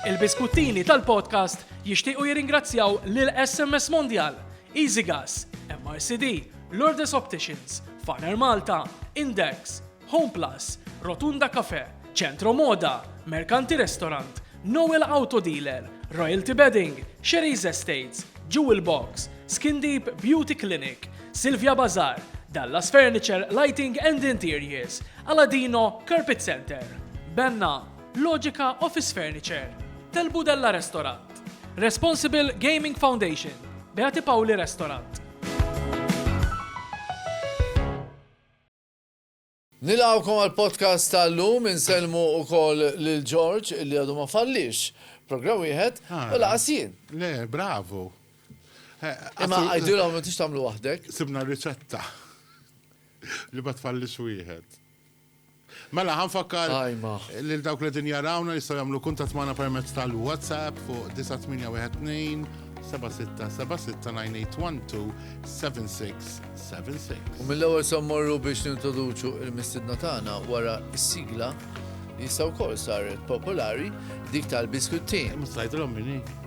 Il-biskuttini tal-podcast jixtiequ jirringrazzjaw lil SMS Mondial, Easy Gas, MRCD, Lourdes Opticians, Faner Malta, Index, Home Plus, Rotunda Cafe, Centro Moda, Mercanti Restaurant, Noel Auto Dealer, Royalty Bedding, Sherry's Estates, Jewel Box, Skin Deep Beauty Clinic, Silvia Bazar, Dallas Furniture Lighting and Interiors, Aladino Carpet Center, Benna, Logica Office Furniture, Tel Budella Restaurant, Responsible Gaming Foundation, Beati Pauli Restaurant. Nilgħawkom għal podcast tal-lum inselmu u koll l-Ġorġ li għadu ma fallix. Program wieħed ah. u laqasien. Le, bravo. Eh, Imma għajdilom ma tix tamlu wahdek. Sibna riċetta li ma tfallix wieħed. Mela, ħa nfakkar lil dawk li qegħdin jarawna jistgħu jagħmlu kuntatt magħna permezz tal-WhatsApp fuq 9812-7676-981-276-76. U mill-ewwel sa mmorru biex nintroduċu l-mistiedna tagħna wara s-sigla li issa wkoll saret popolari dik tal-biskuttin. Mhux tgħidilhom min hi.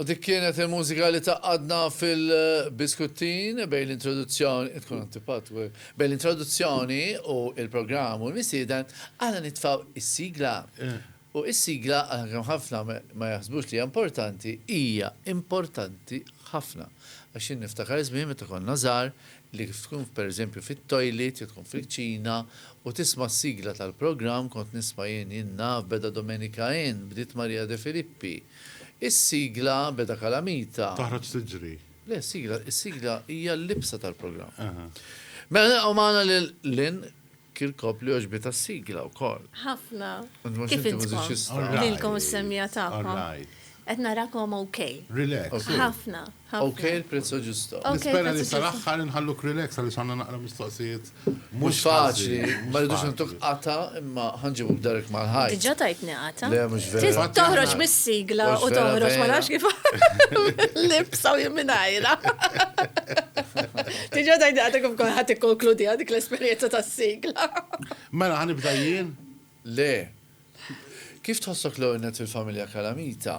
U dik kienet il-mużika li taqadna fil-biskuttin bejn l-introduzzjoni, tkun antipat, bejn l-introduzzjoni u il-programm u l-misieden, għana nitfaw is-sigla. U is-sigla, għalkemm ħafna ma jaħsbux li hija importanti, hija importanti ħafna. Għax jien niftakar żmien meta konna żgħar li kif tkun per eżempju fit-toilet jew tkun fil-kċina u tisma' s-sigla tal-programm, kont nisma' jien, jien naf, beda Domenica Inn, bdiet Maria De Filippi. Is-sigla beda kalamita. Taħroġ tiġri. Le, s-sigla, is-sigla hija l-libsa tal-programm. Mela nilqgħu magħna lil Lynn Kirkop li għoġbitha s-sigla wkoll. Ħafna. Kif intkom? Lilkom is-semmiegħa tagħkom. Qed narakom okej. Relax. Ħafna. Ok, il prezzo ġusto. Nispera li sal-axħar nħalluk relax għaliex għandna naqra mistoqsijiet. Mhux faċli, ma rridux ntuk qata imma ħanġibu b'darek mal-ħajt. Diġà tajtni qata. Le mhux vera. Toħroġ mis-sigla u toħroġ ma nafx kif libsa u jimminajra. Diġà tajtni qata kif kont ħadd ikkonkludi dik l-esperjenza tas-sigla. Mela ħanibda jien? Le. Kif tħossok l-għornet fil-familja Kalamita?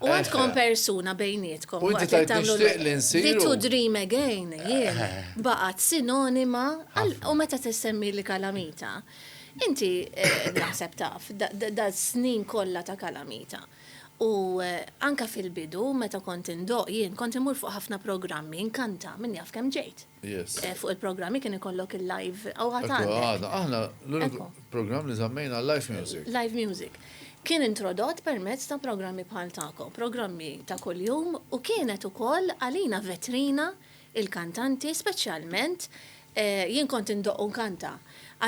U għad tkun eh. persuna bejnietkom. U inti ta' tixtieq li nsiru. Did to dream again, jien. Eh. Baqat sinonima, u meta t-semmi li kalamita. Inti eh, naħseb taf, da snin kollha ta' kalamita. U anka fil-bidu, meta kont indoq jien, kont imur fuq ħafna programmi, nkanta, minn jaf kem ġejt. fuq il-programmi kien ikollok il-live. Għadha, aħna l-programm li żammejna live music. Live music. Kien introdott permezz ta' programmi bħal tagħkom, programmi ta' kuljum u kienet ukoll għalina vetrina il-kantanti speċjalment jien kont indoqq u nkanta.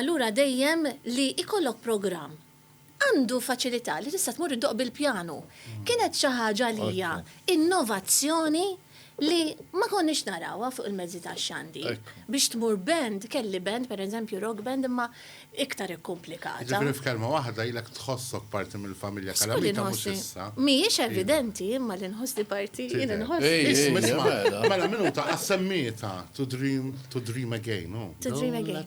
Allura dejjem li jkollok programm għandu faċilità li tista' tmur iddoqq bil-pjanu. Kienet xi ħaġa għalija innovazzjoni li ma konniex narawha fuq il-mezzi tax-xandir. Biex tmur band, kelli band, pereżempju rock band, imma iktar ikkumplikata. Jiġifieri f'kelma waħda ilek tħossok parti mill-familja Calamita mhux issa. Mhijiex evidenti imma li nħossni parti, jien inħoss. Isma' isma', mela minuta, għas-semmiegħtha, To dream, to dream again, hu. To dream again.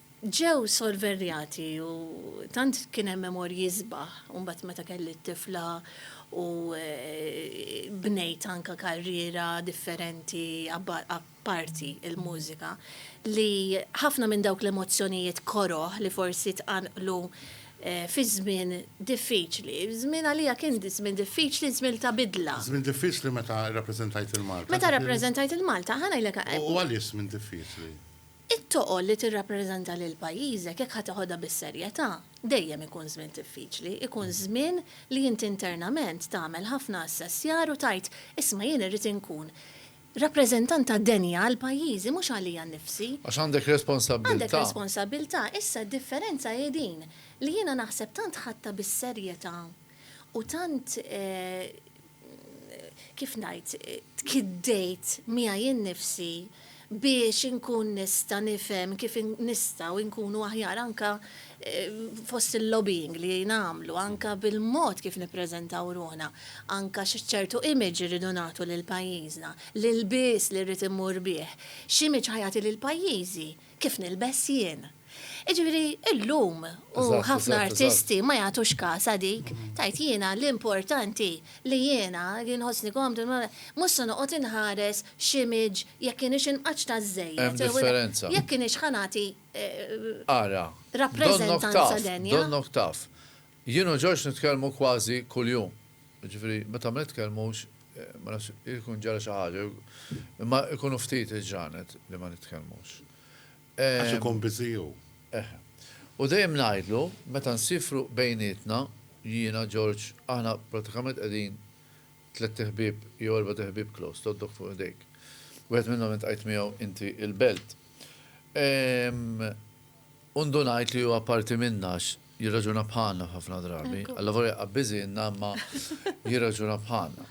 Ġew sorverjati u tant kien hemm memorji sbaħ u mbagħad meta kelli t-tifla u bnejt anke karriera differenti apparti l-mużika li ħafna minn dawk l-emozzjonijiet koroh li forsi tqanqlu fi żmien diffiċli, żmien għalija kien żmien diffiċli, żmien ta' bidla. Żmien diffiċli meta rrappreżentajt 'il Malta. Meta rrappreżentajt 'il Malta, ħa ngħidlek. U għaliex żmien diffiċli? It-toqol li tirrappreżenta lil pajjiżek jekk ħa teħodha bis-serjetà, dejjem ikun żmien diffiċli, ikun żmien li int internament tagħmel ħafna assessjar u tgħid, isma' jien irrid inkun rappreżentanta denja għal pajjiżi mhux għalija nnifsi. Għax għandek responsabbiltà. Għandek responsabbiltà. Issa d-differenza hi din, li jiena naħseb tant ħadtha bis-serjetà u tant kif ngħid, tkiddejt miegħi innifsi biex inkun nista' nifhem kif nistgħu nkunu aħjar anke fost il-lobbying li nagħmlu, anke bil-mod kif nippreżentaw ruħna, anke x'ċertu image irridu nagħtu lil pajjiżna, l-ilbies li rrid immur bih, x'image ħa jagħti lil pajjiżi. kif nilbes jien. Jiġifieri illum u ħafna artisti ma jagħtux kasha dik, tgħid jiena l-importanti li jiena li nħossni komdu, mhux se noqgħod inħares x'image jekk kienx inqaċċta żżejjed jew jekk kienx ħa nagħti rappreżentanza denja. Ara, donnok taf, donnok taf. Jien u George nitkellmu kważi kuljum. Jiġifieri, meta ma nitkellmux, ma nafx, irid ikun ġara xi ħaġa jew, imma ikunu ftit il-ġranet li ma nitkellmux. Għax ikun busy hu. Eħe. U dejjem ngħidlu, meta nsifru bejnietna, jiena, George, aħna prattikament qegħdin tlett iħbieb jew erbat iħbieb close, tgħoddok fuq idejk. Wieħed minnhom intqajt miegħu inti il-belt. U ndunajt li huwa parti minna għax jirraġuna bħalna f'ħafna drabi. Allavolja jaqgħa biżienna imma jirraġuna bħalna.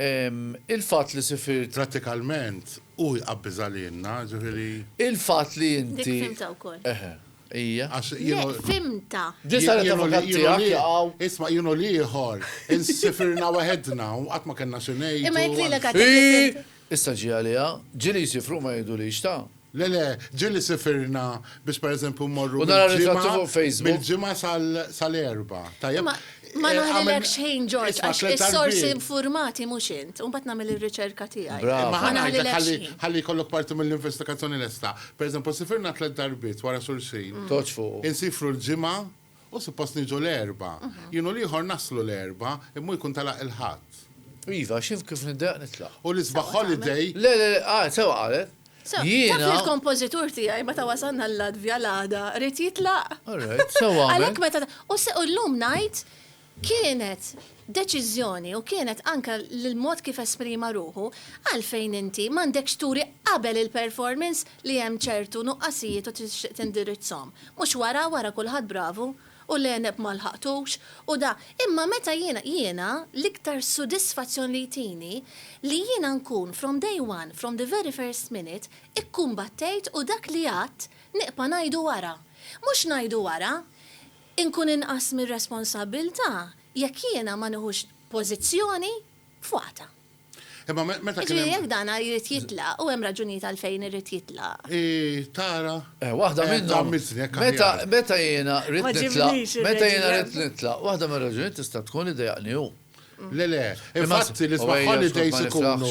Il-fatt li sifirt. Prattikalment hu jqgħa biża' lilna, ġifieri. Il-fatt li inti. Dik fhimtha wkoll. Eħe. Hija. Għax jien. Le, fhimtha. Din saret avukat tiegħek jaqgħu. Isma' jien u l-ieħor insifirna waħedna u qatt ma kellna xi ngħidu. Imma jekk lilek għad. Issa ġie għaliha. Ġieli jsifru u ma jgħidulix, ta. Le, le, ġieli sifirna biex pereżempju mmorru mill-Ġimgħa, mill-Ġimgħa sal-Erbgħa. Tajjeb. Ma, ma ngħidilek xejn, Ġorġ, għax is-sorsi infurmati mhux int. U mbagħad nagħmel ir-riċerka tiegħi. Brava. Ma ngħidlek xejn. Ħalli jkollok parti mill-investigazzjoni lesta. Pereżempju, sifirna tliet darbiet wara xulxin. Toġġ fuqu. Insifru l-Ġimgħa Hu suppost niġu l-Erbgħa. Jien u l-ieħor naslu l-Erbgħa, imma hu jkun telaq il-Ħadd. Iva, x'inf kif niddeqq nitlaq. U l-isbaħ holiday? Le, le, le, ah, sewwa qalet. Sewwa, Jiena. taf li l-kompożitur tiegħi meta wasalna l-Latvja l-għada ried jitlaq. All right, sewwa għamel. Għalhekk meta, u llum ngħid kienet deċiżjoni u kienet anke l-mod kif esprima ruħu, għalfejn inti m'għandekx turi qabel il-performance li hemm ċertu nuqqasijiet u tixtieq tindirizzhom? Mhux wara, wara kulħadd bravu, u l-għeneb ma lħaqtux, u da. Imma meta jiena, jiena l-iktar sudisfazzjon li jtini li jiena nkun from day one, from the very first minute, ikkumbattejt u dak li għadt niqpa' ngħidu wara. Mhux ngħidu wara, inkun inqas mir-responsabbiltà, Jekk jiena ma nieħux pożizzjoni f'waqtha. Imma meta kien hemm. Jiġifieri jekk dan jrid jitlaq, u hemm raġunijiet għalfejn irid jitlaq. Hi tara. Eh, waħda minnhom. Meta, meta jiena rrid nitlaq, meta jiena rrid nitlaq, waħda mir-raġunijiet tista' tkun li dejaqni hu. Le, le, infatti l-isbaħ holidays ikunu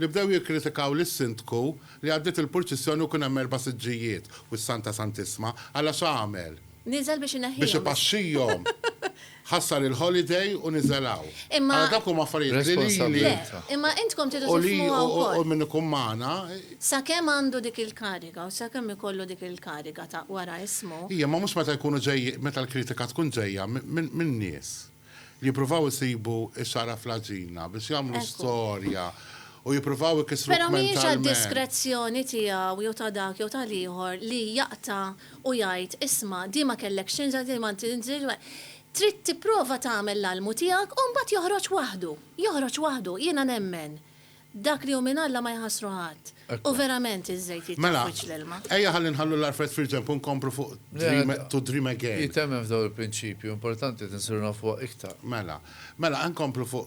li bdew jikkritikaw lis-Sindku li għaddiet il-purċissjoni u kien hemm erba' siġġijiet u s-Santa Santissma, alla x'għamel? Niżel biex ineħħihom. Biex ipaxxihom. Ħassar il-holiday u niżel hawn. Imma. Ara dawk huma affarijiet li lili. Le, imma intkom tridu tifhmuha wkoll. U min ikun magħna. Sakemm għandu dik il-kariga u sakemm ikollu dik il-kariga ta' wara ismu. Ija, imma mhux meta jkunu ġej, meta l-kritika tkun ġejja min-nies. Li jippruvaw isibu s-sara fl-għaġina biex jagħmlu storja u jippruvaw ikissruk mentalment. Però mhijiex għad-diskrezzjoni tiegħu jew ta' dak jew tal-ieħor li jaqta' u jgħid, isma' din ma kellekx tinżel, din ma tinżilx. Trid tipprova tagħmel l-almu tiegħek u mbagħad joħroġ waħdu. Joħroġ waħdu. Jiena nemmen Dak li hu minn Alla ma jħassru ħadd. U verament iż-żejt jitraf wiċċ l-ilma. Mela, ejja ħalli nħallu l-għarfejn fil-ġenb u nkomplu fuq Dream to Dream Again. Hi temmen f'dawn il-prinċipji u importanti li nsiru nafuha iktar. Mela. Mela, ejja nkomplu fuq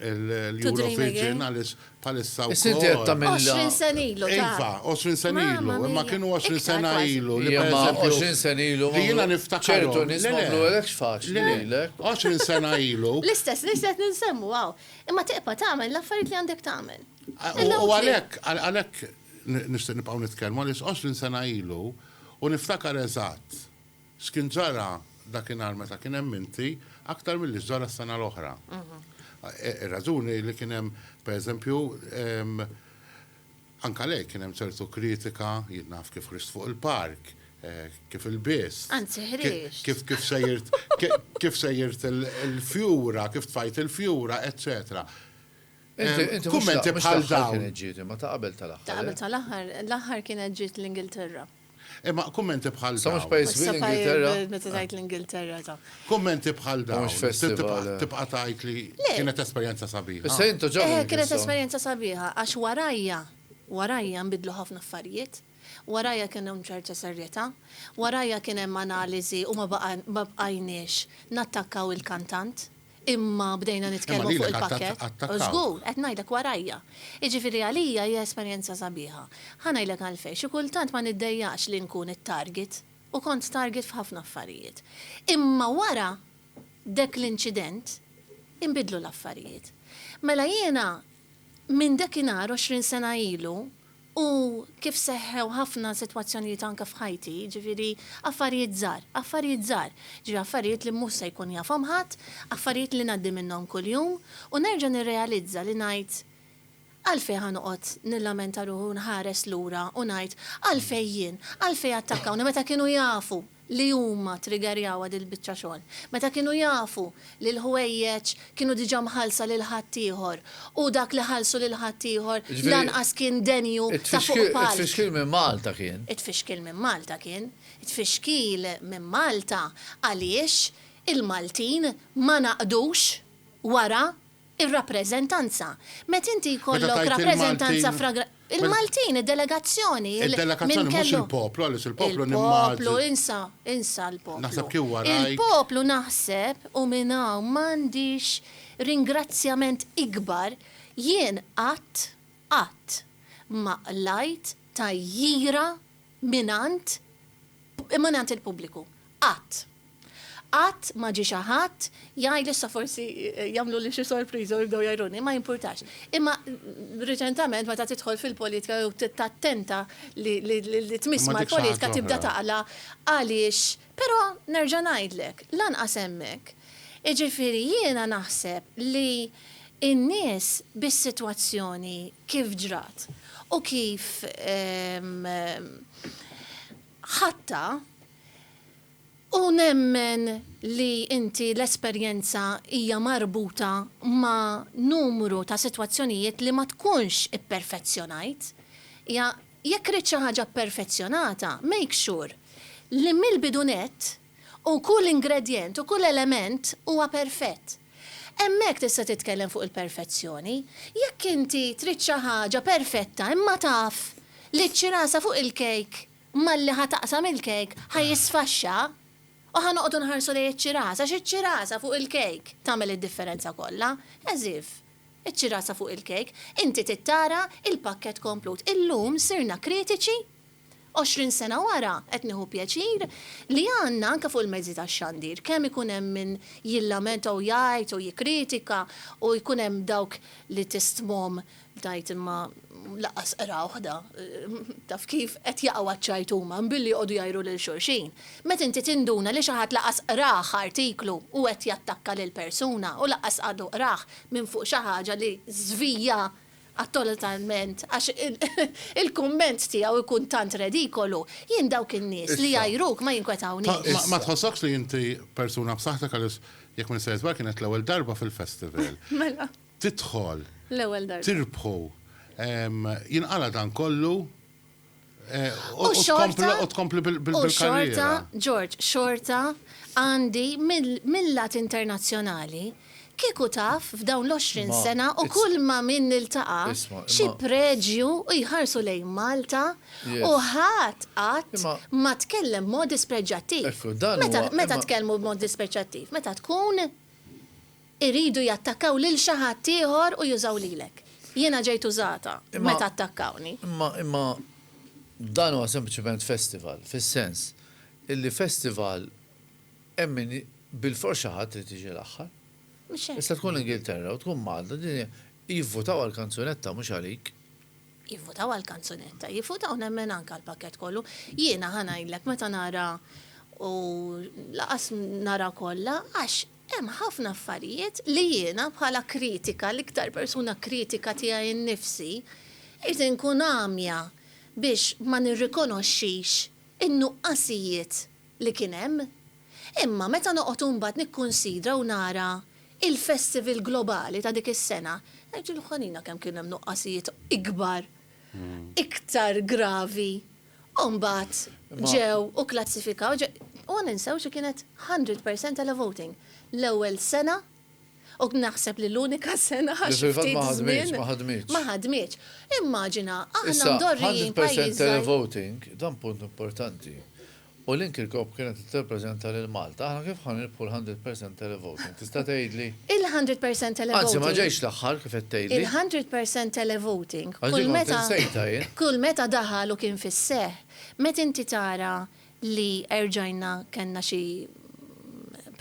il-Eurovision għaliex bħalissa wkoll. Issir diretta minn. Għoxrin sena ilu, ta. Iva, għoxrin sena ilu. Imma kienu għoxrin sena ilu. Imma għoxrin sena ilu. Li jiena niftakar. Ċertu nies ma għamluhekx faċli lilek. Għoxrin sena ilu. L-istess nies li qed ninsemmu hawn. Imma tibqa' tagħmel l-affarijiet li għandek tagħmel. U għalhekk, għalhekk nixtieq nibqgħu nitkellmu għaliex għoxrin sena ilu u niftakar eżatt x'kien ġara dakinhar meta kien hemm inti aktar milli x'ġara s-sena l-oħra. Ir-raġuni li kien hemm, pereżempju, Anke għalhekk kien hemm ċertu kritika, jien naf kif ħriġt fuq il-park, kif ilbist. Anzi ħriġt. Kif kif sejjirt kif sejjirt il-fjura, kif tfajt il-fjura, eċċetera. Kummenti bħal dawn. Inti mhux l-aħħar kienet ġiet imma ta' qabel tal-aħħar. Ta' qabel tal-aħħar, l-aħħar kienet ġiet l-Ingilterra. Imma kummenti bħal dawn. Sa mhux pajjiż kbir l-Ingilterra. Meta tgħid l-Ingilterra ta. Kummenti bħal dawn. Tibqa' tgħid li kienet esperjenza sabiħa. Issa intu ġo. Eh, kienet esperjenza sabiħa għax warajja, warajja nbidlu ħafna affarijiet, warajja kien hemm ċerta serjetà, warajja kien hemm analiżi u ma bqajniex nattakkaw il-kantant. Imma bdejna nitkellmu fuq il-pakkett. Imma lilek attakawk. Żgur, qed ngħidlek warajja. Jiġifieri għalija hija esperjenza sabiħa. Ħa ngħidlek għalfejn, xi kultant ma niddejjaqx li nkun it-target, u kont target f'ħafna affarijiet. Imma wara dek l-inċident, inbidlu l-affarijiet. Mela jiena minn dekinhar għoxrin sena ilu, U kif seħħew ħafna sitwazzjonijiet anke f'ħajti, jiġifieri affarijiet żgħar, affarijiet żgħar, jiġifieri affarijiet li mhux se jkun jafhom ħadd, affarijiet li ngħaddi minnhom kuljum u nerġa' nirrealizza li ngħid, Għalfejn ħa noqgħod nillamenta ruħi u nħares lura u ngħid, Għalfejn jien? Għalfejn attakkawni meta kienu jafu li huma triggerjawha dil-biċċa xogħol, meta kienu jafu li l-ħwejjeġ kienu diġà mħallsa lil ħaddieħor u dak li ħallsu lil ħaddieħor lanqas kien denju ta' fuq palk. Jiġifieri t-tfixkil minn Malta kien. It-tfixkil minn Malta kien. It-tfixkil minn Malta għaliex il-Maltin ma naqdux wara Ir-rappreżentanza. Meta inti jkollok rappreżentanza fragra. Il-Maltin, id-delegazzjoni, il-. Id-delegazzjoni, mhux il-poplu, għaliex il-poplu nimmaġina. Il-poplu, insa, insa l-poplu. Naħseb kien warajk. Il-poplu naħseb, u minn hawn m'għandix ringrazzjament ikbar, jien qatt, qatt ma qlajt tgħajjira mingħand mingħand il-pubbliku. Qatt. Qatt ma ġie xi ħadd jgħid li issa forsi jagħmluli xi sorpriża u jibdew jgħajruni, ma jimpurtax. Imma riċentament meta tidħol fil-politika jew tattenta li tmiss mal-politika tibda taqla' għaliex Però nerġa' ngħidlek, lanqas hemmhekk. Jiġifieri jiena naħseb li n-nies bis-sitwazzjoni kif ġrat u kif ħadtha, u nemmen li inti l-esperjenza hija marbuta ma' numru ta' sitwazzjonijiet li ma tkunx ipperfezzjonajt, hija Jekk ridt xi ħaġa pperfezzjonata, make sure li mill-bidu nett u kull ingredjent u kull element huwa perfett. Hemmhekk tista' titkellem fuq il-perfezzjoni. Jekk inti trid xi ħaġa perfetta imma taf li ċ-ċirasa fuq il-kejk malli ħa taqsam il-kejk ħa jisfaxxa u ħa noqogħdu nħarsu lejn iċ-ċirasa għax iċ-ċirasa fuq il-kejk tagħmel id-differenza kollha, as if. Iċ-ċirasa fuq il-kejk, inti tittara il-pakkett komplut. Illum sirna kritiċi? Għoxrin sena wara, qed nieħu pjaċir li għandna anke fuq il-mezzi tax-xandir, kemm ikun hemm min jillamenta u jgħid u jikkritika u jkun hemm dawk li tistmhom tgħid imma lanqas qrawh da, taf kif, qed jaqgħu għaċ-ċajt huma, mbilli joqogħdu jgħajru lil xulxin. Meta inti tinduna li xi ħadd lanqas qrah artiklu u qed jattakka lil persuna u lanqas għadu qrah, minn fuq xi ħaġa li żvija attotalment għax il-kumment tiegħu jkun tant redikolu, jien dawk in-nies li jgħajruk ma jinkwetawniex. Ma tħossokx li inti persuna b'saħħtek għaliex jekk ma nistejjer żball kienet l-ewwel darba fil-festival. Mela. Tidħol. L-ewwel darba. Tirbħu. Jinqala' dan kollu. U xorta. U tkompli bil-xorta, George, xorta għandi mill-lat internazzjonali kieku taf f'dawn l-20 sena u kull ma min niltaqa' xi preġju u jħarsu lejn Malta u ħadd qatt ma tkellem b'mod dispreġġjattiv. Meta tkellmu b'mod dispreġġjattiv? Meta tkun Iridu jattakkaw lil xi ħadd ieħor u jużaw lilek. Jiena ġejt użata meta attakkawni. Imma, imma dan huwa sempliċement festival, fis-sens illi festival hemm min bilfors xi ħadd irid jiġi l-aħħar. Mhux hekk. Tista' tkun l-Ingilterra u tkun Malta, din hija, jivvutaw għall-kanzunetta mhux għalik. Jivvutaw għall-kanzunetta, jivvutaw nemmen anke għall-pakkett kollu. Jiena ħa ngħidlek meta nara u lanqas nara kollha għax Hemm ħafna affarijiet li jiena bħala kritika, l-iktar persuna kritika tiegħi nnifsi, irid inkun għamja biex ma nirrikonoxxix in-nuqqasijiet li kien hemm. Imma meta noqgħod imbagħad nikkunsidra u nara il-festival globali ta' dik is-sena, ngħid ġilħanina kemm kien hemm nuqqasijiet ikbar, iktar gravi. U mbagħad ġew u kklassifikaw, ġe, u ma ninsewx li kienet hundred percent televoting. L-ewwel sena, u naħseb li l-unika sena għax xi ftit żmien. Li fil-fatt ma ħadmitx, ma ħadmitx. Ma ħadmitx. Immaġina, aħna mdorrijin pajjiż żgħir. Issa, hundred percent televoting, dan punt importanti. U l-Inkicoop kienet tirrappreżenta lil Malta. Aħna kif ħa nirbħu l-hundred percent televoting? Tista' tgħidli? Il-hundred percent televoting. Anzi, ma ġejtx l-aħħar kif qed tgħidli. Il-hundred percent televoting. Għax din kont insejtha jien. Kull meta daħal u kien fis-seħħ, meta inti tara li erġajna kellna xi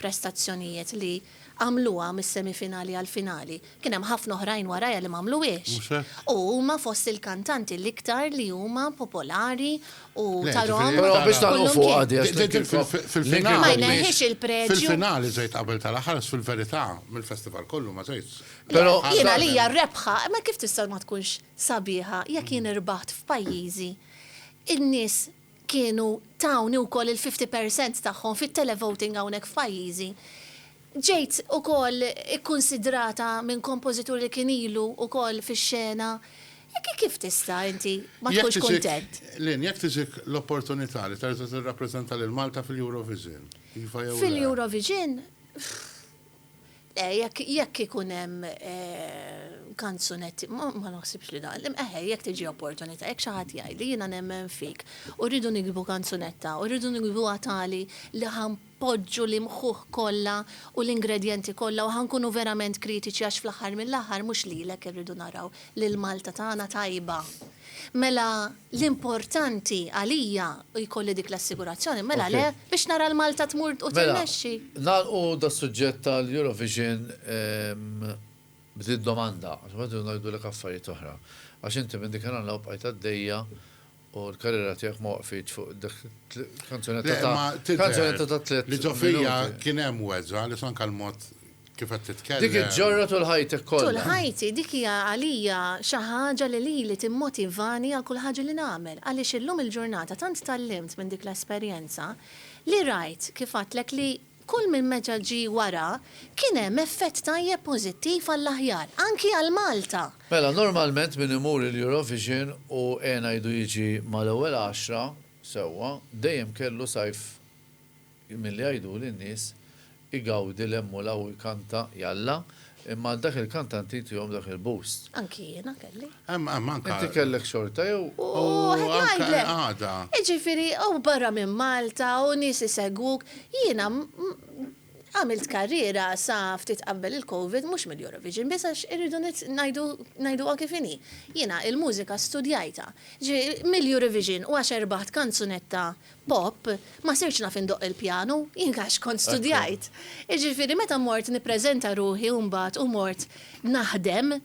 prestazzjonijiet li. għamluha mis-semifinali għall-finali. Kien hemm ħafna oħrajn warajha li m'għamluhiex. Mhux hekk? U huma fost il-kantanti l-iktar li huma popolari u Le, tarhom ġifieri Però biex tagħlqu kullum fuqha kien. di għax Din l-inkirkop- fil- fil-finali. Ma l-inkirkop di- jneħħiex il-preġju. Fil-finali żgħid qabel tal-aħħar, fil-verità, mill-festival kollu ma żgħidx. Le, Però- jien Għalhekk- għalija r-rebħa, imma kif tista' ma tkunx sabiħa jekk jien irbaħt f'pajjiżi, in-nies kienu tawni wkoll il-fifty per cent tagħhom fit-televoting hawnhekk f'pajjiżi, ġejt ukoll ikkunsidrata minn kompożitur li kien ilu wkoll fix-xena, kif tista' inti ma tkunx kuntent? Lynn, jekk tiġik l-opportunità li terġa' tirrappreżenta lil Malta fil-Eurovision, iva jew le? Fil-Eurovision? Le, jekk jekk ikun hemm kanzunetti, ma ma naħsibx li dan. Im- Eħe, jekk tiġi opportunità, jekk xi ħadd jgħidli jiena nemmen fik u rridu niktbu kanzunetta u rridu niktbuha tali li ħa npoġġu l-imħuħ kollha u l-ingredjenti kollha u ħa nkunu verament kritiċi għax fl-aħħar mill-aħħar mhux lilek irridu naraw, lill-Malta tagħna tajba. Mela l-importanti għalija u jkolli dik l-assigurazzjoni, mela le, biex nara l-Malta tmur u tirnexxi. Mela, nagħlqu das-suġġett tal-Eurovision b'din domanda, għax imbagħad irridu ngħidulek affarijiet oħra. Għax inti minn dikinhar 'l hawn bqajt għaddejja u l-karriera tiegħek ma waqfitx fuq dak il-kanzunetta ta' kanzunetta ta' tliet minuti. Le, imma tidher li ġo fija kien hemm weġgħa għaliex anke l-mod Kif qed titkellem. Dik il-ġorra tul ħajtek kollha. Tul ħajti, dik hija għalija xi ħaġa li lili timmotivani għal kull ħaġa li nagħmel, għaliex illum il-ġurnata tant tgħallimt minn dik l-esperjenza li rajt, kif għadtlek, li kull min meta ġie wara kien hemm effett tajjeb pożittiv għall-aħjar, anki għal Malta. Mela, normalment min imur il-Eurovision u għena jdu jiġi mal-ewwel għaxra, sewwa, dejjem kellu sajf Milli jgħiduli n-nies, Igawdi l-emmul hawn ikanta, jalla, imma għal dak il-kant tant jitihom dak il-boost. Anki jiena kelli. Hemm, hemm anke. Inti kellek xorta jew? U qed ngħidlek. Għada. Jiġifieri hawn barra minn Malta u nies isegwuk, jiena għamilt karriera sa ftit qabel il-Covid mhux mill-Eurovision biss għax irridu ngħidu ngħiduha kif inhi. Jiena il-mużika studjajtha. Ġifieri mill-Eurovision u għax erbaħt kanzunetta Pop, Ma sirtx naf indoqq il-pjanu, jien għax kont studjajt. Jiġifieri meta mort nippreżenta ruħi u mbagħad u mort naħdem,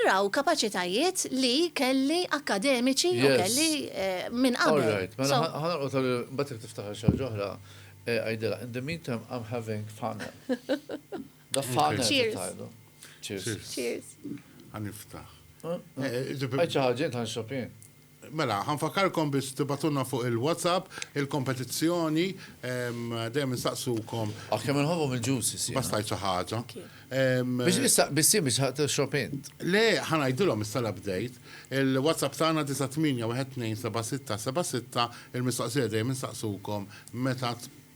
raw kapaċitajiet li kelli akkademiċi u kelli minn qabel. All right, mela ħa nagħlqu tal. Mbagħad jekk tiftaħar xi ħaġa oħra, għidilha. In the meantime I'm having funnel. The funnel qed ngħidu. Cheers. Cheers. Ħa niftaħ. Għid xi ħaġa int, ħa nixrob jien. Mela, ħa nfakkarkom biex tibgħatulna fuq il-WhatsApp il-kompetizzjoni, dejjem insaqsukom. Aħ kemm inħobbhom il-juices jiena. Bas tgħid xi ħaġa. Biex issa bissim biex ħa tixrob int. Le, ħa ngħidilhom issa l-update. Il-WhatsApp tagħna 98127676, il-mistoqsija dejjem insaqsukom meta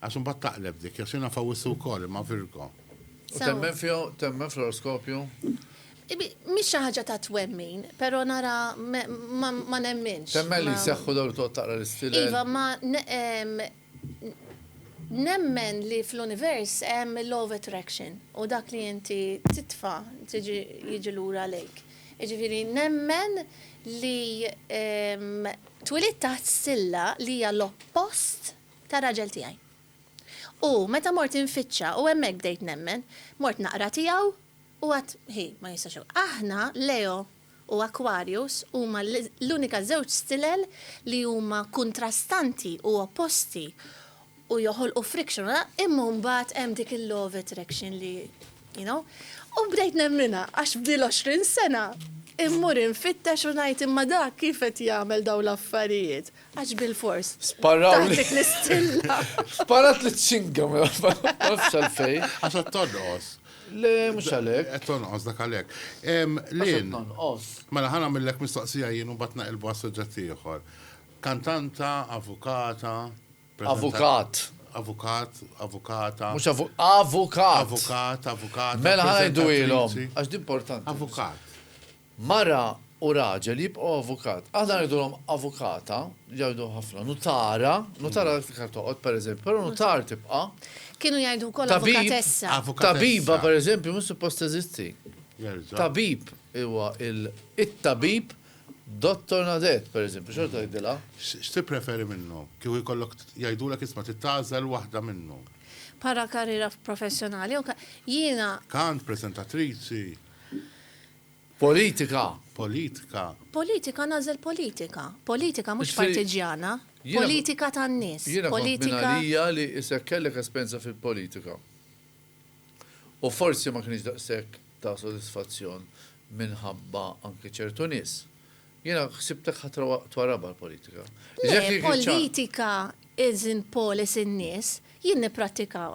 Għax imbagħad taqleb dik, għax jiena f'Awwissu wkoll, imma Virgo. U temmen fija, temmen fl-oroskopju? Mhix xi ħaġa ta' twemmin, però nara ma nemminx. Temmen li jseħħu dawn li toqgħod taqra l-istilel? Iva, ma nemmen li fl-univers hemm il-law of attraction u dak li inti titfa' jiġi lura lejk. Jiġifieri nemmen li twilidt taħt silla li hija l-oppost tar-raġel tiegħi. U meta mort infittxa u hemmhekk bdejt nemmen, mort naqra tiegħu u għad hi ma jistax hu. Aħna, Leo u Aquarius, huma l-unika żewġ stilel li huma kuntrastanti u opposti u joħolqu friction u imma mbagħad hemm dik il-law of attraction li you know. U bdejt nemminha għax b'dil għoxrin sena immur infittex u ngħid imma dak kif qed jagħmel dawn l-affarijiet? Għax bil-fors. Sparraw. Dik l-istilla. Sparat li t-singa, ma nafx għalfej. Għax għat tonqos. Le, mux għalek. Għat tonqos dak għalek. Lin. Tonqos. Mela ħana millek mistoqsija jien u batna il bas suġġett ieħor. Kantanta, avukata. Avukat. Avukat, avukata. Mux avukat. Avukat, avukata. Mela ħana jdu ilom. Għax d-importanti. Avukat. Mara u raġel jibqgħu avukat. Aħna ngħidulhom avukata, jgħidu ħafna nutara, nutara l-iktar toqgħod pereżempju, però nutar tibqa'. Kienu jgħidu wkoll avukatessa. Tabiba pereżempju mhux suppost teżisti. Tabib huwa it-tabib Dottor Nadet pereżempju, xorta jgħidilha. X'tippreferi minnhom? Kieku jkollok jgħidulek isma' trid tagħżel waħda minnhom. Bħala karriera professjonali jew jiena. Kant, preżentatriċi. Politika, politika. Politika nagħżel politika. Politika mhux partiġjana. Politika tan-nies. Jiena kont minn għalija li isek kellek esperjenza fil-politika. U forsi ma kienx daqshekk ta' sodisfazzjon minħabba anki ċertu nies. Jiena ħsibtek ħa twarabha l-politika. Le, politika isn't polis in-nies, jien nipprattika.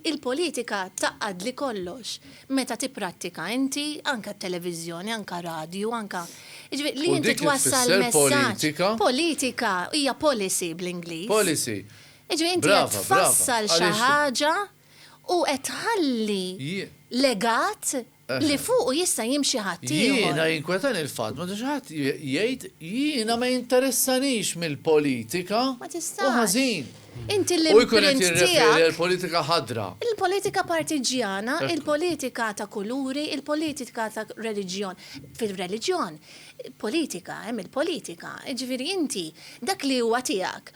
Il-politika taqgħadli kollox meta tipprattika inti anke t-televiżjoni, anke radju, anke. Jiġifieri li inti twassal messaġġ. Politika hija policy bl-Ingliż. Policy. Jiġifieri inti qed tfassal xi ħaġa u qed tħalli legat li fuqu jista' jimxi ħaddieħor. Jiena jinkwetani l-fatt meta xi ħadd jgħid jiena ma jinteressanix mill-politika u ħażin u jkun qed jirreferi għall-politika ħadra. Il-politika partiġġjana, il-politika ta' kuluri, il-politika ta' reliġjon. Fir-reliġjon, politika, hemm il-politika. Jiġifieri inti dak li huwa tiegħek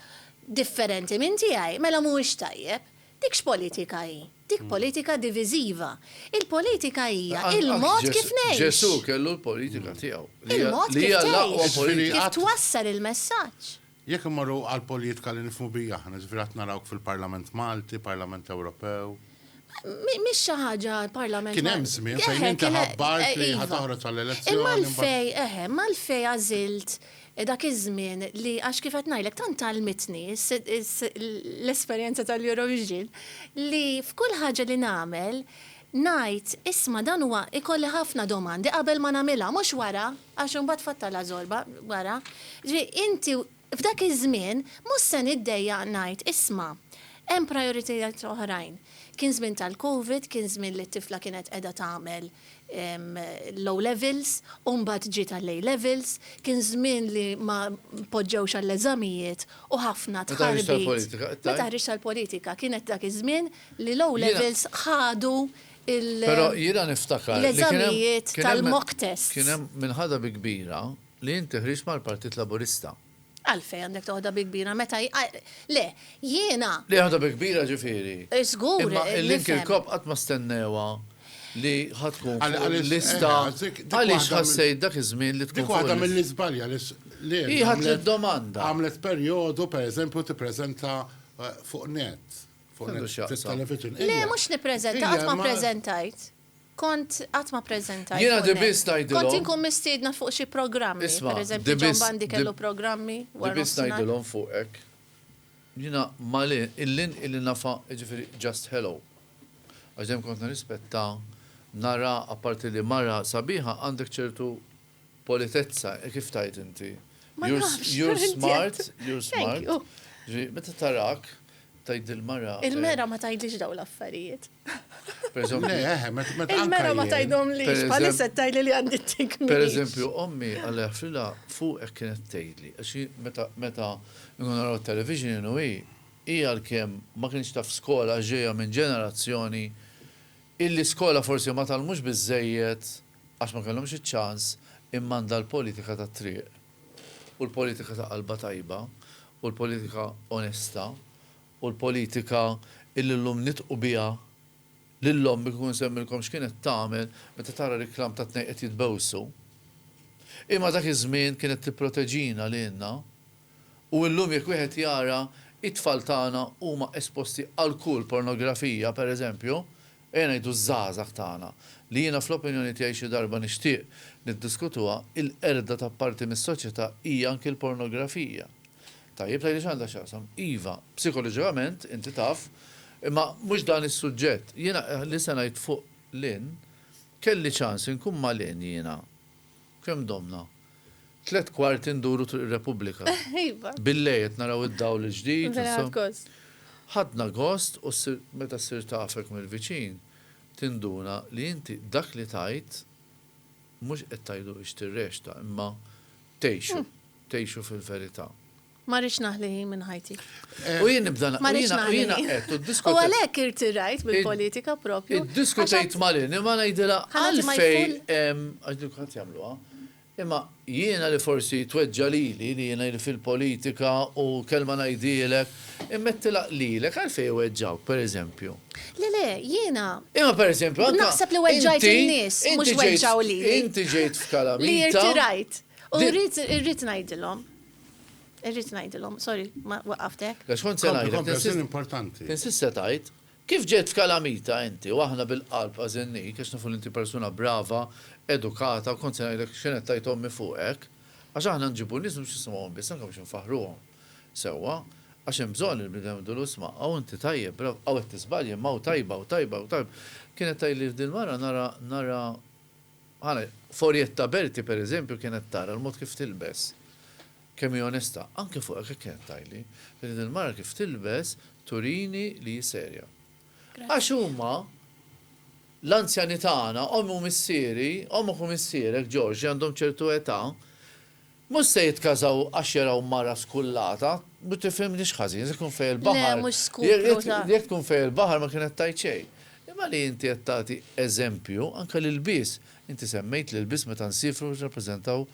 differenti minn tiegħi mela mhuwiex tajjeb. Dik x'politika hi? Dik politika diviżiva. Il-politika hija l-mod kif ngħix. Anqas Ġesù kellu l-politika tiegħu, li hija l-aqwa politika. Il-mod kif tgħix, kif twassal il-messaġġ. Jekk immorru għall-politika li nifhmu biha aħna, jiġifieri qatt narawk fil-Parlament Malti, Parlament Ewropew. Mhix xi ħaġa l-Parlament Malti. Kien hemm żmien fejn inti ħabbart li ħa toħroġ għall-elezzjoni. Imma għalfejn, eħe, imma għalfejn għażilt dak iż-żmien li għax kif qed ngħidlek tant għallmitni l-esperjenza tal-Eurovision li f'kull ħaġa li nagħmel ngħid isma' dan huwa ikolli ħafna domandi qabel ma nagħmilha mhux wara għax imbagħad tfattalha żorba wara. Jiġifieri inti f'dak iż-żmien mhux se niddejjaq ngħid isma' hemm prijoritajiet oħrajn. Kien żmien tal-Covid, kien żmien li t-tifla kienet qiegħda tagħmel l-O' Levels u mbagħad ġiet għall-A' Levels, kien żmien li ma poġġewx għall-eżamijiet u ħafna tħarbit. Meta ħriġt għall-politika, kienet dak iż-żmien li l-O' Levels ħadu l-eżamijiet tal-mock tests. Kien hemm minħadha bi kbira li inti ħriġt mal-Partit Laburista. Għalfejn għandek toħodha bi kbira meta hi, le, jiena. Li jaħodha bi kbira ġifieri. Żgur, nifhem. Imma il-link il-kop qatt ma stennewha li ħa tkun fuq il-lista. Għaliex ħassejt dak iż-żmien li tkun fuq il-lista? Dik waħda mill-iżbalji għaliex Lear. Hi ħadt id-domanda. Għamlet perjodu, pereżempju, tippreżenta fuq net. X'għandu x'jaqsam. Le, mhux nippreżenta, qatt ma ppreżentajt. Kont qatt ma ppreżentajt. Jiena di biss ngħidilhom. Kont inkun mistiedna fuq xi programmi. Isma', di biss. Pereżempju John Bandi kellu programmi wara nofsinhar. Di biss ngħidilhom fuqek. Jiena Malin, illin illi nafha, jiġifieri just hello. Għax dejjem kont nirrispetta, nara, apparti li mara sabiħa, għandek ċertu Politezza, kif tgħid inti? Ma nafx! You're smart, you're smart. Ġifieri, meta tarak, tgħid il-mara. Il-mera ma tgħidlix dawn l-affarijiet. Il-mera ma tgħidhomlix, bħalissa tgħidli li għandi t-tik. Pereżempju, ommi Alla jaħfrilha fuq hekk kienet tgħidli. Għax hi meta nkunu naraw it-television inhu hi, hi għalkemm ma kienx taf skola għax ġejja minn ġenerazzjoni illi skola forsi ma tgħallmux biżżejjed Għax ma kellhomx iċ-ċans immanda l-politika tat-triq u l-politika ta' qalba tajba u l-politika onesta u l-politika illi llum nitqu biha lil ommi kieku nsemmilkom x'kienet tagħmel meta tara riklam ta' tnejn qed jitbewsu. Hi ma dak iż-żmien kienet tipproteġina lilna u illum jekk wieħed jara t-tfal tagħna huma esposti għal kull pornografija pereżempju Ejja ngħidu ż-żgħażagħ tagħna, li jiena fl-opinjoni tiegħi xi darba nixtieq niddiskutuha, il-qerda ta' parti mis-soċjetà hija anki l-pornografija. Tajjeb, tgħidli x'għandha x'taqsam. Iva, psikoloġikament, inti taf, imma mhux dan is-suġġett. Jiena li se ngħid fuq Lynn, kelli ċans inkun ma' Lynn jiena. Kemm domna? Tliet kwarti nduru Triq ir-Repubblika. Iva. Billejl qed naraw id-dawl il-ġdid. Vera ħadt gost. Ħadna gost u ssir meta ssir tafek mill-viċin tinduna li inti dak li tgħid mhux qed tgħidu biex tirrexta imma tgħixu, tgħixu fil-verità. Ma rridx naħli ħin minn ħajti. Eh, u jien nibda Ma rridx naħli ħin. U għalhekk irtirajt bil-politika propju. Iddiskutejt malin, imma ngħidilha għalfejn għax dik ħadd jagħmluha. Imma jiena li forsi tweġġa lili li jiena li fil-politika u kelma ngħidilek, immettila lilek għalfej weġġawk, per eżempju. Le, le, jiena. Imma per eżempju, naħseb li weġġajt in-nies, mhux weġġaw lili. Inti ġejt f'kalamita. Li irtirajt. U rrid ngħidilhom. Irrid ngħidilhom, sorry, ma waqaftek. Għax kont se ngħidlek. importanti. Insista tajt, kif ġejt f'kalamita inti u aħna bil-qalb ħażinnik għax nafu li inti persuna brava, edukata u kont se ngħidlek x'kien qed tgħid ommi fuqek. Għax aħna nġibu nies mhux nisimgħuhom biss anke biex infaħħruhom sewwa. Għax hemm bżonn li l-bniedem idur u jisma', hawn inti tajjeb, bravo, hawn qed tiżbalji imma hawn tajba, hawn tajba, hawn tajba. Kienet tgħidli f'dil-mara nara, nara, Għalhekk, f'Orietta Berti, per eżempju, kienet tara l-mod kif tilbes, kemm hi onesta. Anke fuq hekk kienet tgħidli li din il-mara kif tilbes turini li hi serja. Għax huma, l-anzjani tagħna, omm u missieri, ommok u missierek, George, li għandhom ċertu età, Mhux se jitkażaw għax jaraw mara skullata. Ma tifhimnix ħażin, se tkun fejn il-baħar. Le, mhux skupru ta'. Jekk tkun fejn il-baħar ma kienet tgħid xejn. Imma li inti qed tagħti eżempju, anke l-ilbies, inti semmejt l-ilbies meta nsiefru biex nirrappreżentaw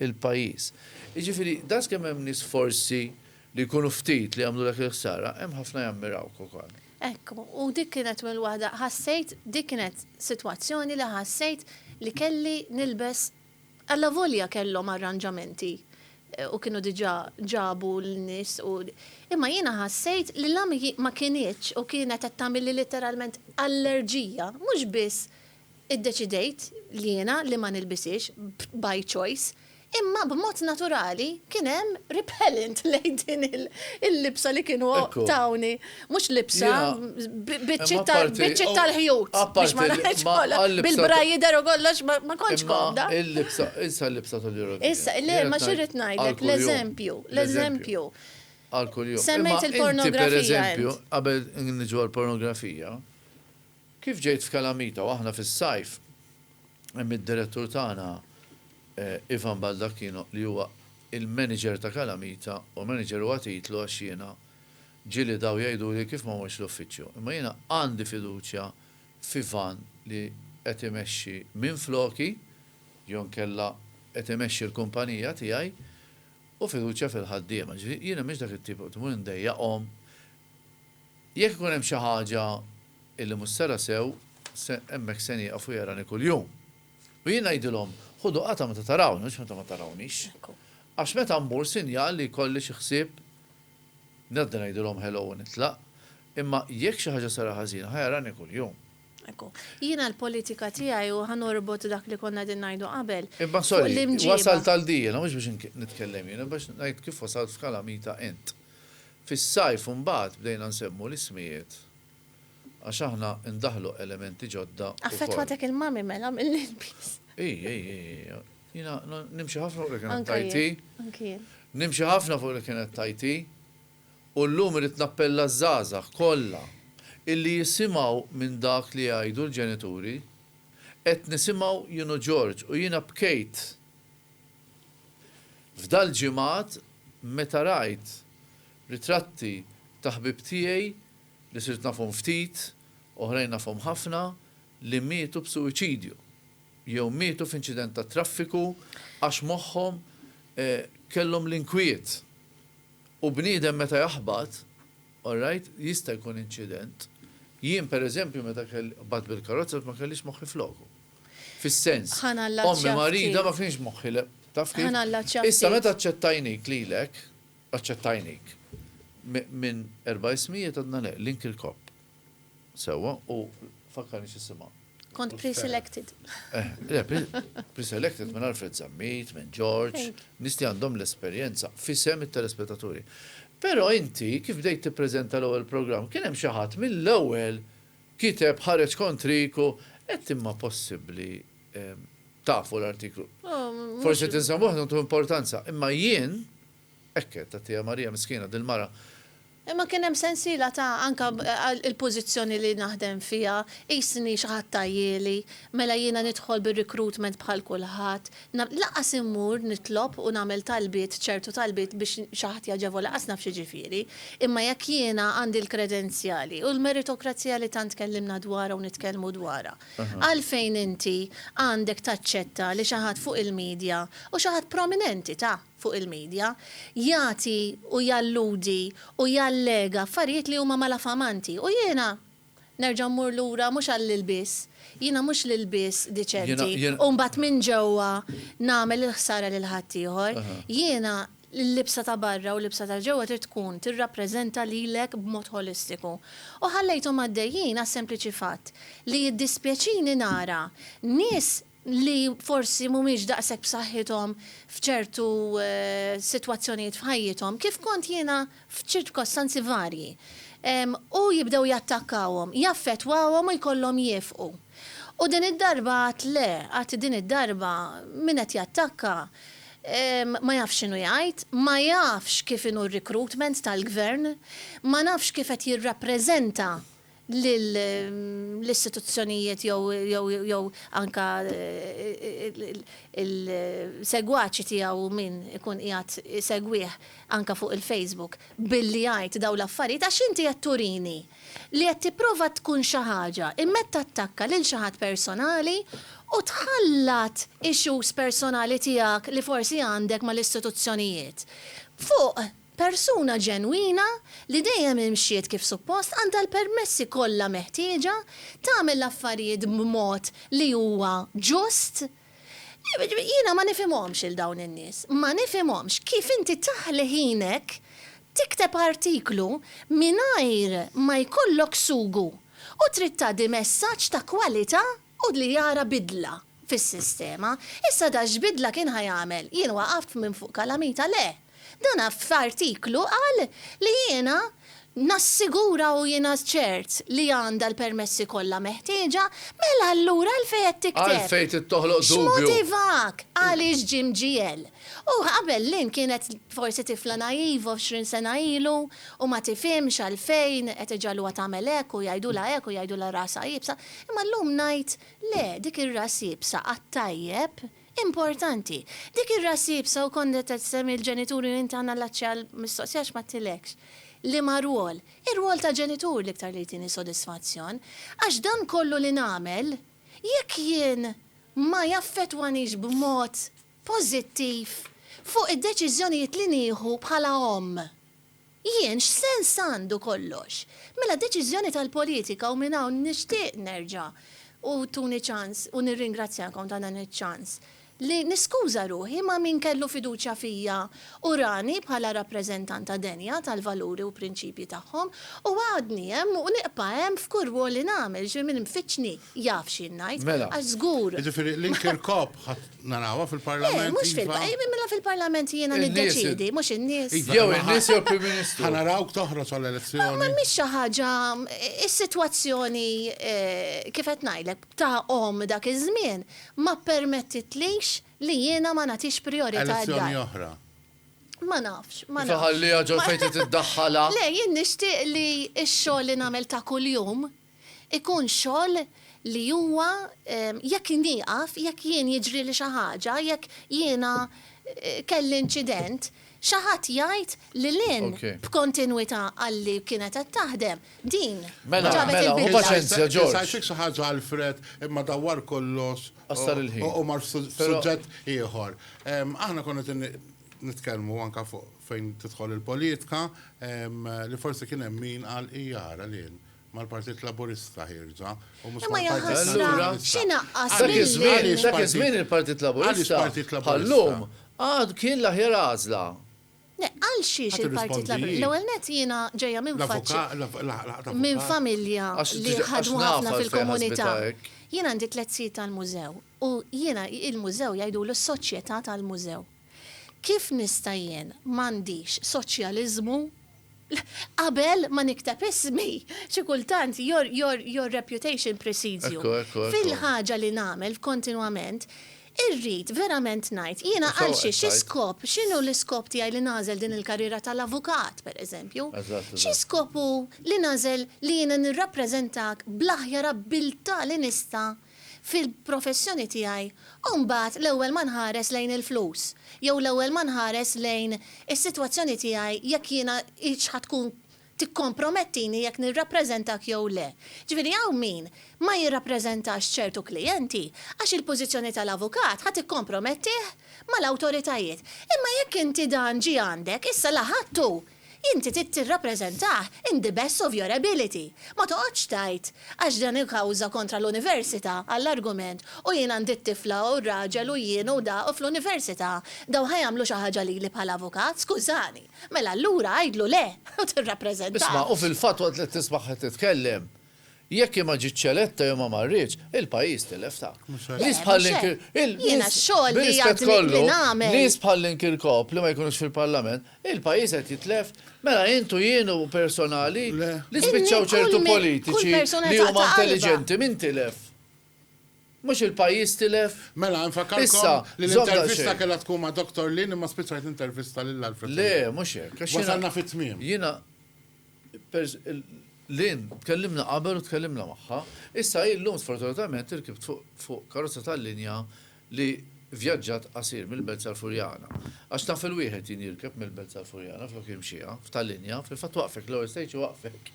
il-pajjiż. Jiġifieri daqskemm hemm nies forsi li jkunu ftit li jagħmlulek il-ħsara, hemm ħafna jammirawk ukoll. Hekk hu. U dik kienet minn waħda, ħassejt, dik kienet sitwazzjoni li ħassejt li kelli nilbes Allavolja kellhom arranġamenti u kienu diġà ġabu l-nies u, imma jiena ħassejt li la ma kinitx u kienet qed tagħmilli litteralment allerġija, mhux biss iddeċidejt jiena li ma nilbishiex by choice, imma b'mod naturali kien hemm repellent lejn din il-libsa li kienu tawni. Mhux libsa, biċċiet tal-ħjut. Biex ma ngħidx kollha. Bil-bra jidher u kollox ma kontx komda. Imma il-libsa, issa l-libsa tal-Eurovision. Issa, le, ma xirrid ngħidlek, l-eżempju, l-eżempju. Għal kuljum. Semmejt il-pornografija. Per eżempju, qabel niġu għall-pornografija, kif ġejt f'kalamita u aħna fis-sajf, hemm id-direttur tagħna Ivan Baldacchino li huwa il-manager ta' kalamita u manager huwa titlu għax jiena Ġieli daw jgħiduli kif ma mortx l-uffiċċju, imma jiena għandi fiduċja f'Ivan li qed imexxi minfloki jew inkella qed imexxi l-kumpanija tiegħi u fiduċja fil-ħaddiema. Jiġifieri jiena m'iniex dak it-tip li mmur indejjaqhom. Jekk ikun hemm xi ħaġa illi mhux sera sew, se hemmhekk se nieqaf u jarani kuljum. U jien ngħidilhom, ħudu qatgħa meta tarawni mhux meta ma tarawniex. Għax meta mmur sinjal li jkolli xi ħsieb Ngħaddi ngħidilhom hello u nitlaq. Imma jekk xi ħaġa sara ħażina, ħa jarani kuljum. Ekku. Jiena l-politika tiegħi, u ħa norbot dak li konna qegħdin ngħidu qabel, Imma sorry, wasalt għal di jiena, mhux biex nitkellem jiena, imma biex ngħid kif wasalt f'kalamita int. Fis-sajf imbagħad bdejna nsemmu l-ismijiet għax aħna ndaħħlu elementi ġodda. Affettwatek il-mummy mela mill-ilbies. Ii, ii, ii, Jina nimxi ħafna fuq li kienet tajti. Nimxi ħafna fuq li kienet tajti. U l-lum irrit nappella zazax kolla illi jisimaw minn dak li jgħidu l-ġenituri. Qed nisimaw jien u George u jiena bkejt f'dal ġimgħat meta rajt ritratti ta' ħbieb tiegħi li sirt nafhom ftit, oħrajn nafhom ħafna, li mietu b'suwiċidju jew mietu f'inċident tat-traffiku għax moħħhom kellhom l-inkwiet. U bniedem meta jaħbat, alright, jista' jkun inċident. Jien pereżempju meta qbadt bil-karozza għad ma kellix moħħi f'loku. Fis-sens, ommi marida ma kienx moħħi le. Taf kif? Issa meta aċċettajnik lilek, aċċettajnik, minn erba' ismijiet għadna le, link il-kopp. Sewwa, u fakkarni x'isimha. Kont pre-selected. Eh, le, pre-selected minn Alfred Zammit, minn George, nisti għandhom l-esperjenza fisem it-telespettaturi. Però inti kif bdejt tippreżenta l-ewwel programm kien hemm xi ħadd mill-ewwel kiteb ħareġ kontrik u qed imma possibbli tafu l-artiklu. Oh, Forsi tinsemmuh ntu importanza, imma jien Hekk għedt, għattiha Marija miskina dil-mara. Imma kien hemm sensiela ta' anke il-pożizzjoni li naħdem fiha, qisni xi ħadd għajieli, mela jiena nidħol bir-recruitment bħal kulħadd, lanqas immur nitlob u nagħmel talbiet, ċertu talbiet biex xi ħadd jgħaġebha lanqas naf x'jiġifieri. Imma jekk jiena għandi l-kredenzjali u l-meritokrazija li tant tkellimna dwarha u nitkellmu dwarha, għalfejn inti għandek taċċetta li xi ħadd fuq il-media, u xi ħadd prominenti ta'. fuq il-media, jagħti u jalludi u jallega affarijiet li huma malafamanti u jiena nerġa' mmur lura mhux għall-ilbies, jiena mhux l-ilbies diċenti u mbagħad minn ġewwa nagħmel il-ħsara lil ħaddieħor. Jiena l-libsa ta' barra u l-libsa ta' ġewwa trid tkun tirrappreżenta lilek b'mod ħolistiku. U ħallejthom għaddejjin għas-sempliċi fatt li jiddispjaċini nara nies li forsi mhumiex daqshekk b'saħħithom f'ċertu sitwazzjonijiet f'ħajjithom, kif kont jiena f'ċirkostanzi varji, u jibdew jattakkawhom, jaffettwawhom u jkollhom jiefqu. U din id-darba għadt le, għadt din id-darba min qed jattakka ma jafx x'inhu jgħid, ma jafx kif inhu r-recruitment tal-Gvern, ma nafx kif qed jirrappreżenta lill-istituzzjonijiet jew anke l-segwaċi tiegħu u min ikun qiegħed isegwih anke fuq il-Facebook billi jgħid dawn l-affarijiet għax inti qed turini li qed tipprova tkun xi ħaġa imma qed tattakka lil xi ħadd personali u tħallat issues personali tiegħek li forsi għandek mal-istituzzjonijiet fuq Persuna ġenwina li dejjem imxiet kif suppost għandha l-permessi kollha meħtieġa tagħmel l-affarijiet b'mod li huwa ġust. Jiena ma nifhimhomx lil dawn in-nies. Ma nifhimhomx kif inti taħli ħinek tikteb artiklu mingħajr ma jkollok sugu u trid tgħaddi messaġġ ta' kwalità u li jara bidla. fis-sistema. Issa da x'bidla kien ħa jagħmel? Jien waqaft minn fuq kalamita? Le! Dan f'artiklu qal li jiena nassigura u jiena ċert li għandha l-permessi kollha meħtieġa, mela allura għalfejn qed tikteb? Għalfejn trid toħloq dubju? X'motivak? Għaliex ġie mġiegħel? U qabel Lynn kienet forsi tifla naiva għoxrin sena ilu u ma tifhimx għalfejn qed iġagħluha tagħmel hekk u jgħidulha hekk u jgħidulha rasha iebsa, imma llum ngħid, Le, dik ir-ras iebsa għat-tajjeb importanti. Dik ir-ras iebsa u kont qed issemmi l-ġenituri u inti għandna llaċċi għall-mistoqsija għax m'għedtilekx liema rwol. Ir-rwol ta' ġenitur l-iktar li jtini sodisfazzjon. Għax dan kollu li nagħmel, jekk jien ma jaffettwanix b'mod pożittiv fuq id-deċiżjonijiet li nieħu bħala omm. Jien x'sens għandu kollox? Mela deċiżjoni tal-politika u minn hawn nixtieq nerġa' u tuni ċans u nirringrazzjakom ta' dan iċ-ċans li niskuża ruħi ma' min kellu fiduċja fija u rani bħala rappreżentanta denja tal-valuri u prinċipji tagħhom u għadni hemm u nibqa' hemm f'kull rwol li nagħmel xi min mfittxni jaf x'jien ngħid għax żgur Mela, jiġifieri l-inker kop ħadt Narawha fil-Parlament. Eh, mhux fil-Parlament. Iva. Eh, mela fil-Parlament jiena niddeċidi, mhux in-nies. Iva, jew in-nies jew Prim Ministru. Ħa narawk toħroġ għall-elezzjoni. Ma mhix xi ħaġa is-sitwazzjoni eh, kif qed ngħidlek ta' om dak iż-żmien ma ppermettitlix li jiena ma nagħtix priorità għad-dar. Elezzjoni oħra. Ma nafx, ma nafx. Faħalli ġol fejn tiddaħħala. Le, jien nixtieq li x-xogħol li nagħmel ta' kuljum Ikun xogħol li huwa jekk nieqaf, jekk jien jiġrili xi ħaġa, jekk jiena kelli inċident, xi ħadd jgħid lil hinn b'kontinwità għalli kienet qed taħdem, din ġabet il-bidla. Ngħidlek xi ħaġa Alfred, imma dawwar kollox u mar f'suġġett ieħor. Aħna konna qed nitkellmu anke fuq fejn tidħol il-politika li forsi kien hemm min qal ija ara lil hinn. mal-Partit Laburista ħierġa u mhux mal-Partit Nazzjonalista. Allura, dak iż-żmien il-Partit Laburista bħal-lum għad kien l-aħjar għażla. Le, għal xiex il-Partit Laburista? L-ewwel nett jiena ġejja minn faċċi, minn familja li ħadmu ħafna fil-komunità. Jien għandi tliet sijiet tal-mużew u jiena il-mużew jgħidulu s-soċjetà tal-mużew. Kif nista' jien m'għandix soċjaliżmu? Qabel ma nikteb ismi! Xi kultant your, your, your reputation precedes you. Ekku, ekku, ekku. Fil-ħaġa li nagħmel kontinwament, irrid verament ngħid, jiena għal xi, xi skop, x'inhu l-iskop tiegħi li nagħżel din il-karriera tal-avukat, pereżempju? Eżatt, eżatt. Xi skop hu li nagħżel li jiena nirrappreżentak bl-aħjar abbiltà li nista' fil-professjoni tiegħi u mbagħad l-ewwel ma nħares lejn il-flus jew l-ewwel ma nħares lejn is-sitwazzjoni tiegħi jekk jiena hix ħa tkun tikkompromettini jekk nirrappreżentak jew le. Ġifieri hawn min ma jirrappreżentax ċertu klijenti għax il-pożizzjoni tal-avukat ħa tikkompromettih mal-awtoritajiet. Imma jekk inti dan ġie għandek, issa la ħadtu Inti trid tirrappreżentah in the best of your ability. Ma toqgħodx tgħid, għax dan hu kawża kontra l-Università, għall-argument, u jien għandi t-tifla u r-raġel u jien u da u fl-Università dawn ħa jagħmlu xi ħaġa lili bħala avukat, skużani. Mela allura għidlu le u tirrappreżentah. Isma', u fil-fatt waqt li tismagħha titkellem, Jekk hi ma ġietx eletta jew ma marritx, il-pajjiż tilef ta'. Mhux hekk. Nies bħal Lynn Kirk. Eh, mhux hekk. Jiena x-xogħol li għadni li nagħmel. B'rispett kollu, nies bħal Lynn Kirkop li ma jkunux fil-Parlament, il-pajjiż qed jitlef. Mela int u jien u personali li spiċċaw ċertu politiċi li huma intelliġenti, min tilef? Mhux il-pajjiż tilef? Mela, infakkarkom li l-intervista kellha tkun ma' Doktor Lynn imma spiċċajt nintervista lil Alfred Lynn. Le, mhux hekk. Wasalna fit-tmiem. Jiena. Lynn, tkellimna qabel u tkellimna magħha. Issa hi llum sfortunatament irkibt fuq karozza tal-linja li vjaġġat qasir mill-Belt sal-Furjana. Għax naf il-wieħed jien jirkeb mill-Belt sal-Furjana flok jimxiha, f'tal-linja, fil-fatt waqfek l-ewwel stage waqfek.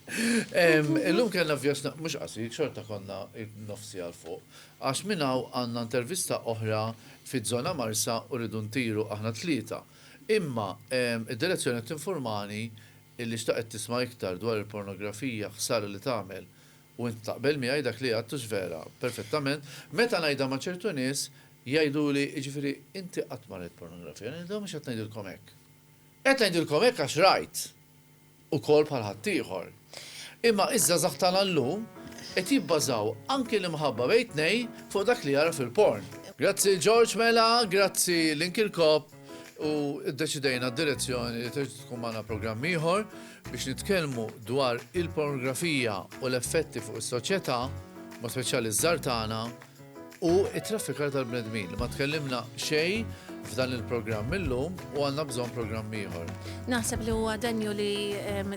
Illum kellna vjaġġ mhux qasir, xorta konna nofs siegħa 'l fuq. Għax minn hawn għandna intervista oħra fiż-żona Marsa u rridu ntiru aħna t-tlieta. Imma d-direzzjoni qed tinfurmani Illi xtaqet tisma' iktar dwar il-pornografija ħsara li tagħmel u int taqbel miegħi dak li għidt hux vera perfettament, meta ngħidha ma' ċertu nies jgħiduli jiġifieri inti qatt ma rajt pornografija ngħidilhom mhux qed ngħidilkom hekk. Qed ngħidilkom hekk għax rajt ukoll bħal ħaddieħor. Imma iż-żgħażagħ tagħna llum qed jibbażaw anki l-imħabba bejn tnejn fuq dak li jara fil-porn. Grazzi George mela grazzi lil Kirkop. u ddeċidejna d-direzzjoni li trid tkun magħna programm ieħor biex nitkellmu dwar il-pornografija u l-effetti fuq is-soċjetà, ma speċjali ż-żar tagħna, u t-traffikar tal-bnedmin. Ma tkellimna xejn f'dan il-programm illum u għandna bżonn programm ieħor. Naħseb li huwa denju li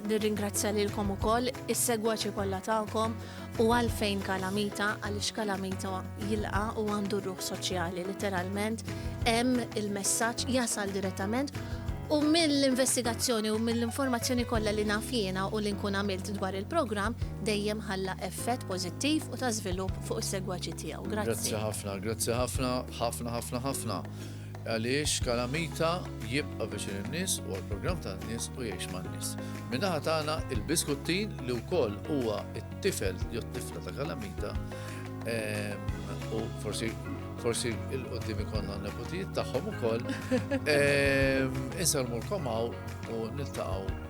nirringrazzja lilkom ukoll is-segwaċi kollha tagħkom U għalfejn kalamita? Għaliex kalamita jilqa u għandu ruħ soċjali, literalment, hemm il-messaġġ jasal direttament U mill-investigazzjoni u mill-informazzjoni kollha li naf jiena u li nkun għamilt dwar il-programm dejjem ħalla effett pożittiv u ta' żvilupp fuq is-segwaċi tiegħu. Grazzi. Grazzi ħafna, grazzi ħafna, ħafna ħafna ħafna. Għaliex Kalamita jibqa' viċin in-nies u għall-programm tan-nies u jgħix man-nies. Min-naħa tagħna il-Biskuttin li wkoll huwa t-tifel jew t-tifla ta' Kalamita u forsi forsi il-qoddim ikonna neputijiet tagħhom ukoll. Insalmulkom hawn u niltaqgħu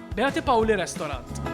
Beati Paoli Restaurant.